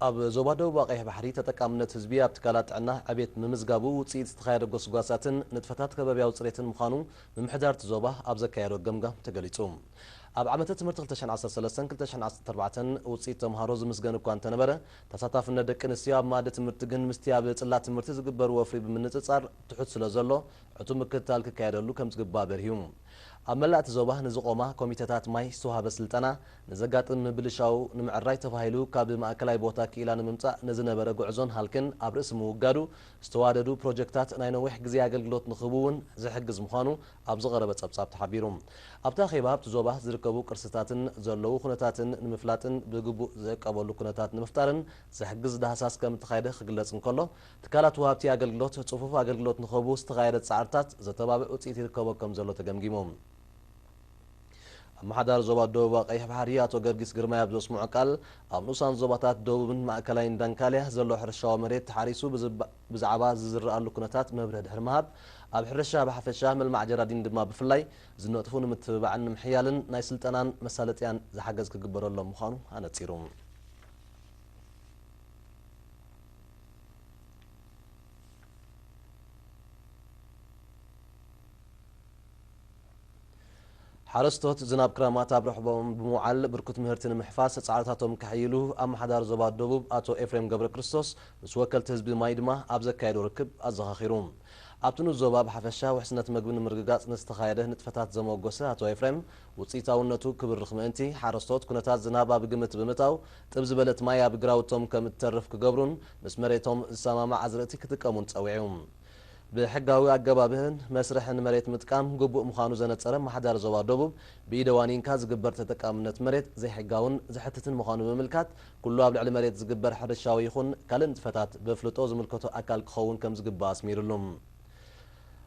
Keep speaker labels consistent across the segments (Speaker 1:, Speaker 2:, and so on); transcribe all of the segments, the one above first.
Speaker 1: ኣብ ዞባ ደቡባ ቀይሕ ባሕሪ ተጠቃምነት ህዝቢ ኣብ ትካላት ጥዕና ዕቤት ምምዝጋቡ ውፅኢት ዝተኻየደ ጎስጓሳትን ንጥፈታት ከባቢያዊ ፅሬትን ምዃኑ ምምሕዳር እቲ ዞባ ኣብ ዘካየዶ ገምጋም ተገሊፁ። ኣብ ዓመተ ትምህርቲ ክልተ ሽሕን ዓሰርተ ሰለስተን ክልተ ሽሕን ዓሰርተ ኣርባዕተን ውፅኢት ተምሃሮ ዝምስገን እኳ እንተነበረ ተሳታፍነት ደቂ ኣንስትዮ ኣብ መኣዲ ትምህርቲ ግን ምስቲ ኣብ ፅላት ትምህርቲ ዝግበር ወፍሪ ብምንፅፃር ትሑት ስለዘሎ ዕቱብ ምክትታል ክካየደሉ ከምዝግባእ በሪሁ። ኣብ መላእ እቲ ዞባ ንዝቖማ ኮሚተታት ማይ ዝተውሃበ ስልጠና፣ ንዘጋጥም ምብልሻው ንምዕራይ ተባሂሉ ካብ ማእከላይ ቦታ ክኢላ ንምምጻእ ንዝነበረ ጉዕዞን ሃልክን ኣብ ርእሲ ምውጋዱ፣ ዝተዋደዱ ፕሮጀክታት ናይ ነዊሕ ግዜ ኣገልግሎት ንኽህቡ እውን ዝሕግዝ ምዃኑ ኣብ ዝቐረበ ጸብጻብ ተሓቢሩ። ኣብቲ ኣኼባ ኣብቲ ዞባ ዝርከቡ ቅርስታትን ዘለዉ ኩነታትን ንምፍላጥን ብግቡእ ዝዕቀበሉ ኩነታት ንምፍጣርን ዝሕግዝ ዳህሳስ ከምእተኻየደ ክግለጽ እንከሎ፣ ትካላት ወሃብቲ ኣገልግሎት ፅፉፍ ኣገልግሎት ንክህቡ ዝተኻየደ ፃዕርታት ዘተባብዕ ውፅኢት ይርከቦ ከምዘሎ ተገምጊሙ። ኣመሓዳሪ ዞባ ደቡባዊ ቀይሕ ባሕሪ ኣቶ ገርጊስ ግርማይ ኣብ ዘስምዖ ቃል፣ ኣብ ንኡሳን ዞባታት ደቡብን ማእከላይን ዳንካልያ ዘሎ ሕርሻዊ መሬት ተሓሪሱ ብዛዕባ ዝዝረኣሉ ኩነታት መብርሂ ድሕሪ ምሃብ፣ ኣብ ሕርሻ ብሓፈሻ ምልማዕ ጀራዲን ድማ ብፍላይ ዝነጥፉ ንምትብባዕን ንምሕያልን ናይ ስልጠናን መሳለጥያን ዝሓገዝ ክግበረሎም ምዃኑ ኣነፂሩ። ሓረስቶት ዝናብ ክረማት ኣብ ርሕቦኦም ብምውዓል ብርኩት ምህርቲ ንምሕፋስ ፃዕርታቶም ከሐይሉ ኣመሓዳሪ ዞባ ደቡብ ኣቶ ኤፍሬም ገብረክርስቶስ ምስ ወከልቲ ህዝቢ ማይ ድማ ኣብ ዘካየዶ ርክብ ኣዘኻኺሩ። ኣብቲ ንዞባ ብሓፈሻ ውሕስነት ምግቢ ንምርግጋፅ ንዝተኻየደ ንጥፈታት ዘሞገሰ ኣቶ ኤፍሬም፣ ውፅኢታውነቱ ክብርኽ ምእንቲ፣ ሓረስቶት ኩነታት ዝናብ ኣብ ግምት ብምእታው ጥብ ዝበለት ማይ ኣብ ግራውቶም ከም እትተርፍ ክገብሩን ምስ መሬቶም ዝሰማማዕ ኣዝርእቲ ክጥቀሙን ፀዊዑ። ብሕጋዊ ኣገባብን መስርሕን መሬት ምጥቃም ግቡእ ምዃኑ ዘነፀረ ኣመሓዳሪ ዞባ ደቡብ፣ ብኢደ ዋኒንካ ዝግበር ተጠቃምነት መሬት ዘይሕጋውን ዘሕትትን ምዃኑ ብምምልካት ኩሉ ኣብ ልዕሊ መሬት ዝግበር ሕርሻዊ ይኹን ካልእ ንጥፈታት በፍልጦ ዝምልከቶ ኣካል ክኸውን ከምዝግባእ ኣስሚርሉ።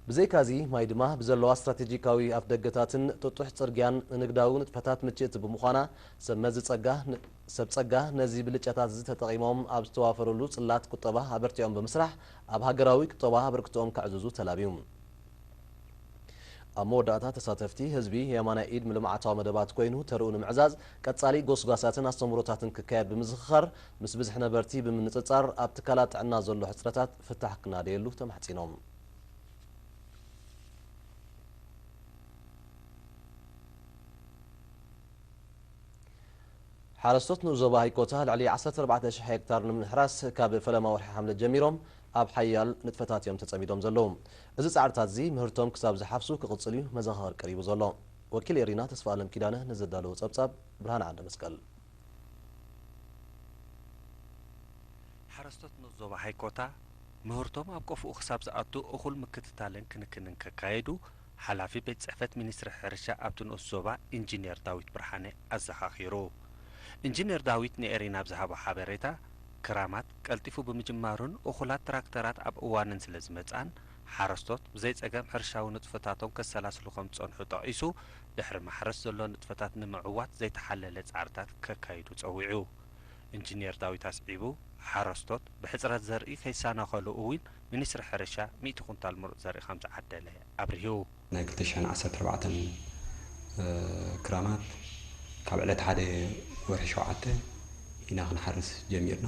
Speaker 1: ብዘይካ'ዚ ማይ ድማ ብዘለዋ ስትራቴጂካዊ ኣፍደገታትን ጥጡሕ ጽርግያን ንንግዳዊ ንጥፈታት ምችእቲ ብምዃና፣ ሰብ መዚ ጸጋ ን ሰብ ጸጋ ነዚ ብልጫታት'ዚ ተጠቒሞም ኣብ ዝተዋፈሩሉ ጽላት ቁጠባ ኣበርቲዖም ብምስራሕ ኣብ ሃገራዊ ቁጠባ ኣበርክቶኦም ከዕዝዙ ተላብዩ። ኣብ መወዳእታ ተሳተፍቲ፣ ህዝቢ የማናይ ኢድ ንልምዓታዊ መደባት ኮይኑ ተርኡ ንምዕዛዝ ቀጻሊ ጎስጓሳትን ኣስተምህሮታትን ክካየድ ብምዝኽኻር፣ ምስ ብዝሒ ነበርቲ ብምንጽጻር ኣብ ትካላት ጥዕና ዘሎ ሕጽረታት፣ ፍታሕ ክናደየሉ ተማሕጺኖም። ሓረስቶት ንኡስ ዞባ ሃይኮታ ልዕሊ ዓሰርተ ኣርባዕተ ሽሕ ሄክታር ንምሕራስ ካብ ፈለማ ወርሒ ሓምለ ጀሚሮም ኣብ ሓያል ንጥፈታት እዮም ተጸሚዶም ዘለዉ። እዚ ጻዕርታት'ዚ ምህርቶም ክሳብ ዝሓፍሱ ክቕጽል እዩ መዘኻኸሪ ቀሪቡ ዘሎ። ወኪል ኤሪና ተስፋኣለም ኪዳነ ንዘዳለዎ ጸብጻብ ብርሃነ ዓንደመስቀል።
Speaker 2: ሓረስቶት ንኡስ ዞባ ሃይኮታ ምህርቶም ኣብ ቆፎኡ ክሳብ ዝኣቱ እኹል ምክትታልን ክንክንን ከካየዱ ሓላፊ ቤት ፅሕፈት ሚኒስትሪ ሕርሻ ኣብቲ ንኡስ ዞባ ኢንጂኔር ዳዊት ብርሃነ ኣዘኻኺሩ። ኢንጂኔር ዳዊት ንኤሪና ኣብ ዝሃቦ ሓበሬታ፣ ክራማት ቀልጢፉ ብምጅማሩን እኹላት ትራክተራት ኣብ እዋነን ስለዝመፅኣን ሓረስቶት ብዘይፀገም ሕርሻዊ ንጥፈታቶም ከሰላስሉ ከምዝፀንሑ ጠቒሱ ድሕሪ ማሕረስ ዘሎ ንጥፈታት ንምዕዋት ዘይተሓለለ ፃዕርታት ከካይዱ ፀዊዑ። ኢንጂኔር ዳዊት ኣስዒቡ፣ ሓረስቶት ብሕፅረት ዘርኢ ከይሰናኸሉ እውን ሚኒስትሪ ሕርሻ ሚእቲ ኩንታል ምሩፅ ዘርኢ ከምዝዓደለ ኣብሪሁ። ናይ ክልተ ሽሕን
Speaker 3: ዓሰርተ ኣርባዕተን ክራማት ካብ ዕለት ሓደ ወርሒ ሸውዓተ ኢና ክንሓርስ ጀሚርና።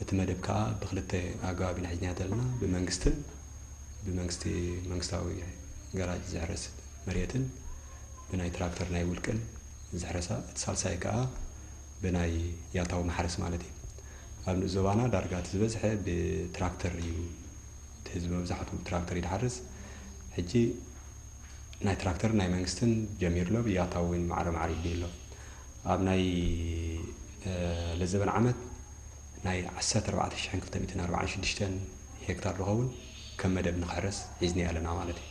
Speaker 3: እቲ መደብ ከኣ ብክልተ ኣገባብ ኢና ሒዝናዮ ዘለና፣ ብመንግስትን ብመንግስቲ መንግስታዊ ገራጅ ዝሕረስ መሬትን ብናይ ትራክተር ናይ ውልቅን ዝሕረሳ እቲ ሳልሳይ ከኣ ብናይ ያታዊ ማሕረስ ማለት እዩ። ኣብ ንኡስ ዞባና ዳርጋ እቲ ዝበዝሐ ብትራክተር እዩ እቲ ህዝቢ መብዛሕትኡ ብትራክተር እዩ ዝሓርስ። ሕጂ ናይ ትራክተርን ናይ መንግስትን ጀሚሩ ኣሎ፣ ያታዊ እውን ማዕረ ማዕረ ይድልዩ ኣሎ። ኣብ ናይ ለዘበን ዓመት ናይ ዓሰርተ ኣርባዕተ ሽሕን ክልተ ሚእትን ኣርባዓን ሽዱሽተን ሄክታር ዝኸውን፣ ከም መደብ ንክሕረስ ሒዝንዮ ኣለና ማለት እዩ።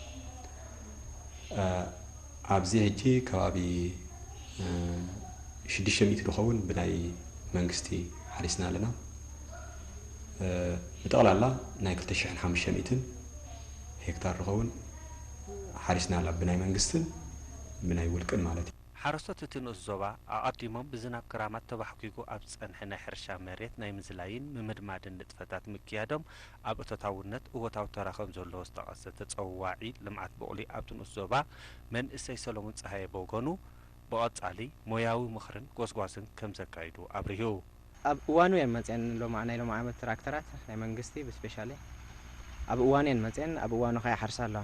Speaker 3: ኣብዚ ሕጂ ከባቢ ሽዱሽተ ሚእቲ ዝኸውን ብናይ መንግስቲ ሓሪስና ኣለና። ብጠቕላላ ናይ ክልተ ሽሕን ሓሙሽተ ሚእትን ሄክታር ዝኸውን ሓሪስና ኣላ ብናይ መንግስትን ብናይ ውልቅን ማለት እዩ። ሓረስቶት እቲ ንኡስ
Speaker 2: ዞባ ኣቐዲሞም ብዝናብ ክራማት ተባሕጒጉ ኣብ ዝጸንሐ ናይ ሕርሻ መሬት ናይ ምዝላይን ምምድማድን ንጥፈታት ምክያዶም ኣብ እቶታውነት እወታዊ ተራ ከምዘለዎ ዝጠቐሰ ተፀዋዒ ልምዓት ቡቕሊ ኣብቲ ንኡስ ዞባ መንእሰይ ሰለሙን ፀሃየ ብወገኑ ብቐፃሊ ሞያዊ ምኽርን ጎስጓስን ከምዘካይዱ ኣብሪሁ። ኣብ
Speaker 4: እዋኑ እየን መፅየን ሎማ ናይ ሎሚ ዓመት ትራክተራት ናይ መንግስቲ ብስፔሻሊ ኣብ እዋኑ እየን መፅየን ኣብ እዋኑ ከኣ ይሓርሳ ኣለዋ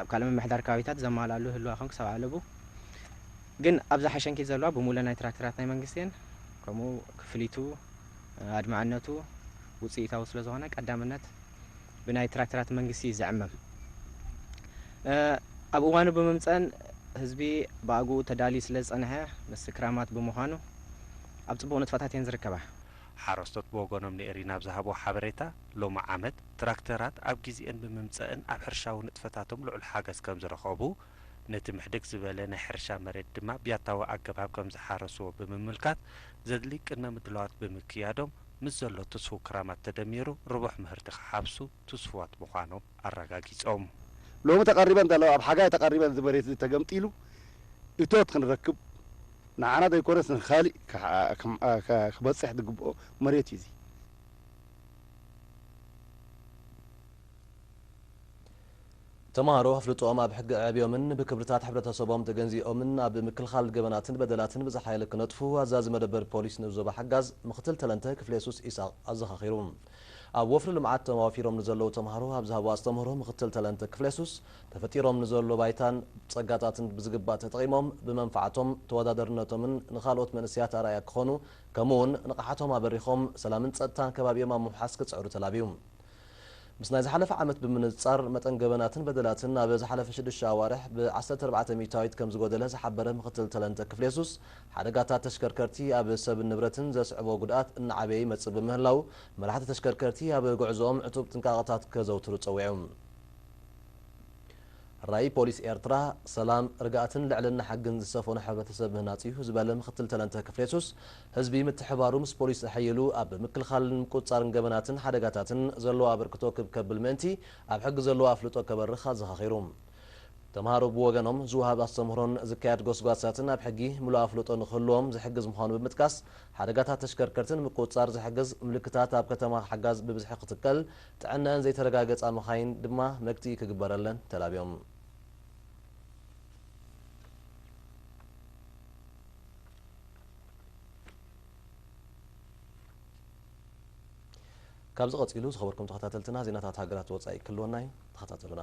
Speaker 4: ኣብ ካልእ ምምሕዳር ከባቢታት ዘማልኣሉ ይህልዋ ይኸውን ክሳብ ኣለቡ ግን ኣብዛ ሓሸንኪት ዘለዋ ብሙለ ናይ ትራክተራት ናይ መንግስቲ እየን ከምኡ ክፍሊቱ ኣድማዕነቱ ውፅኢታዊ ስለዝኾነ ቀዳምነት ብናይ ትራክተራት መንግስቲ እዩ ዝዕመም። ኣብ እዋኑ ብምምፀእን ህዝቢ ብኣግኡ ተዳልዩ ስለዝፀንሐ ምስ ክራማት ብምዃኑ ኣብ ፅቡቕ ንጥፈታት እየን ዝርከባ። ሓረስቶት
Speaker 2: ብወገኖም ንኤሪና ኣብ ዝሃብዎ ሓበሬታ፣ ሎሚ ዓመት ትራክተራት ኣብ ጊዚኤን ብምምፀእን ኣብ ሕርሻዊ ንጥፈታቶም ልዑል ሓገዝ ከምዝረኸቡ፣ ነቲ ምሕድግ ዝበለ ናይ ሕርሻ መሬት ድማ ብያታዊ ኣገባብ ከምዝሓረስዎ ብምምልካት ዘድሊ ቅድመ ምድላዋት ብምክያዶም ምስ ዘሎ ትስፉው ክራማት ተደሚሩ ርቡሕ ምህርቲ ክሓፍሱ ትስፉዋት ምዃኖም ኣረጋጊፆም። ሎሚ
Speaker 5: ተቐሪበን ዘለዋ ኣብ ሓጋይ ተቐሪበን እዚ መሬት እዚ ተገምጢሉ እቶት ክንረክብ ንዓና ዘይኮነስ ንካሊእ ክበፅሕ ዝግበኦ መሬት እዩ እዚ።
Speaker 1: ተማሃሮ ኣፍልጦኦም ኣብ ሕጊ ኣዕብዮምን ብክብርታት ሕብረተሰቦም ተገንዚኦምን ኣብ ምክልኻል ገበናትን በደላትን ብዝሓየለ ክነጥፉ ኣዛዚ መደበር ፖሊስ ንኡስ ዞባ ሓጋዝ ምክትል ተለንተ ክፍለየሱስ ኢሳቕ ኣዘኻኺሩ። ኣብ ወፍሪ ልምዓት ተዋፊሮም ንዘለዉ ተማሃሮ ኣብ ዝሃብዎ ኣስተምህሮ ምክትል ተለንተ ክፍለየሱስ ተፈጢሮም ንዘሎ ባይታን ፀጋታትን ብዝግባእ ተጠቒሞም ብመንፋዕቶም ተወዳደርነቶምን ንኻልኦት መንእሰያት ኣርኣያ ክኾኑ ከምኡ እውን ንቕሓቶም ኣበሪኾም ሰላምን ፀጥታን ከባቢኦም ኣብ ምውሓስ ክፅዕሩ ተላብዩ። ምስ ናይ ዝሓለፈ ዓመት ብምንጽጻር፣ መጠን ገበናትን በደላትን ኣብ ዝሓለፈ ሽዱሽተ ኣዋርሕ ብ ዓሰርተ ኣርባዕተ ሚእታዊት ከም ዝጎደለ ዝሓበረ ምክትል ተለንተ ክፍሌሱስ፣ ሓደጋታት ተሽከርከርቲ ኣብ ሰብን ንብረትን ዘስዕቦ ጉድኣት እናዓበየ ይመጽእ ብምህላዉ፣ መራሕቲ ተሽከርከርቲ ኣብ ጉዕዞኦም ዕቱብ ጥንቃቐታት ከዘውትሩ ጸዊዑ። ራኢ ፖሊስ ኤርትራ፣ ሰላም፣ ርግኣትን ልዕልና ሕግን ዝሰፈኖ ሕብረተሰብ ምህናጽ'ዩ ዝበለ ምክትል ተለንተ ክፍሌሱስ፣ ህዝቢ ምትሕብባሩ ምስ ፖሊስ ተሐይሉ ኣብ ምክልኻልን ምቁፅፃርን ገበናትን ሓደጋታትን ዘለዎ ኣበርክቶ ክብ ከብል ምእንቲ ኣብ ሕጊ ዘለዎ ኣፍልጦ ከበርኽ ኣዘኻኺሩ። ተምሃሮ ብወገኖም ዝወሃብ ኣስተምህሮን ዝካየድ ጎስጓሳትን ኣብ ሕጊ ምሉእ ኣፍልጦ ንክህልዎም ዝሕግዝ ምዃኑ ብምጥቃስ ሓደጋታት ተሽከርከርቲ ንምቁፅፃር ዝሕግዝ ምልክታት ኣብ ከተማ ሓጋዝ ብብዝሒ ክትከል ጥዕነኣን ዘይተረጋገፃ መኻይን ድማ መግትኢ ክግበረለን ተላብዮም። ካብዚ ቀጺሉ ዝኸበርኩም ተኸታተልትና ዜናታት ሃገራት ወጻኢ ክህልወና እዩ ተኸታተሉና።